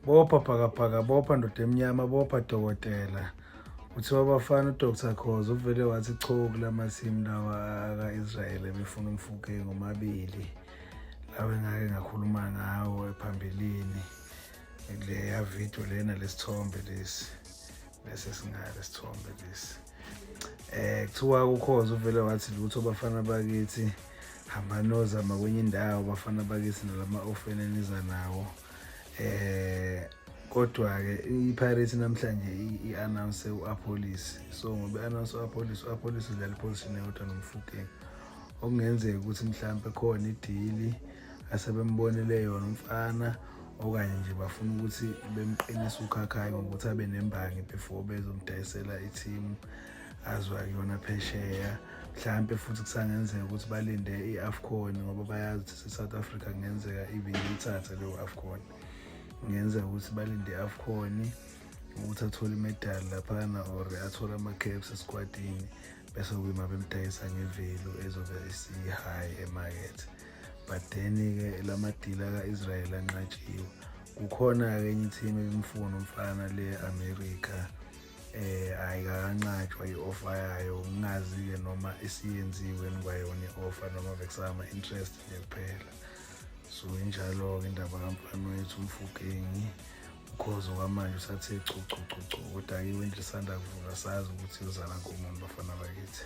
bopha bhakabhaka bopha ndoda emnyama bopha dokotela kuthiwa abafana udr khoza uvele wathi cho kula masimu lawa aka-israyeli ebefuna umfuke ngomabili lawa engake ngakhuluma ngawo ephambilini leya video lena lesithombe lesi lesi singale sithombe lesi eh kuthiwa ukhoza uvele wathi lutho bafana bakithi hamba nozama kwenye indawo bafana bakithi nalama ofene niza nawo eh kodwa ke iPirates namhlanje iannounce uApolis so ngoba announce uApolis uApolis udlala iposition yodwa nomfukeni okungenzeka ukuthi mhlawumbe khona idili asebembonile yona umfana okanye nje bafuna ukuthi bemqinise ukhakhayi ngokuthi abe nembangi before bezomdayisela i-team azwa kuyona phesheya mhlawumpe futhi kusangenzeka ukuthi balinde i-afcon ngoba bayazi ukuthi se-south africa kungenzeka even ithathe leyo afcon kungenzeka ukuthi balinde i-afcon ukuthi athole imedali laphana or athole ama-caps esikwatini bese kuyima bemdayisa ngevelu ezobe isiyi-high emakethe but then-ke la madila ka-israyeli anqatshiwe kukhona-ke enye ithimu ebimfuna umfana le-amerika eh ayikancatshwa i-offa yayo ngingazi-ke noma isiyenziwe kwayona i-offa noma bekusama interest nje kuphela so injalo-ke indaba kamfana wethu umfukengi ukhozi okwamanje usathe chuchuchuchu kodwa-ke iwendlisanda kuvula sazi ukuthi yozala komuntu bafana bakithi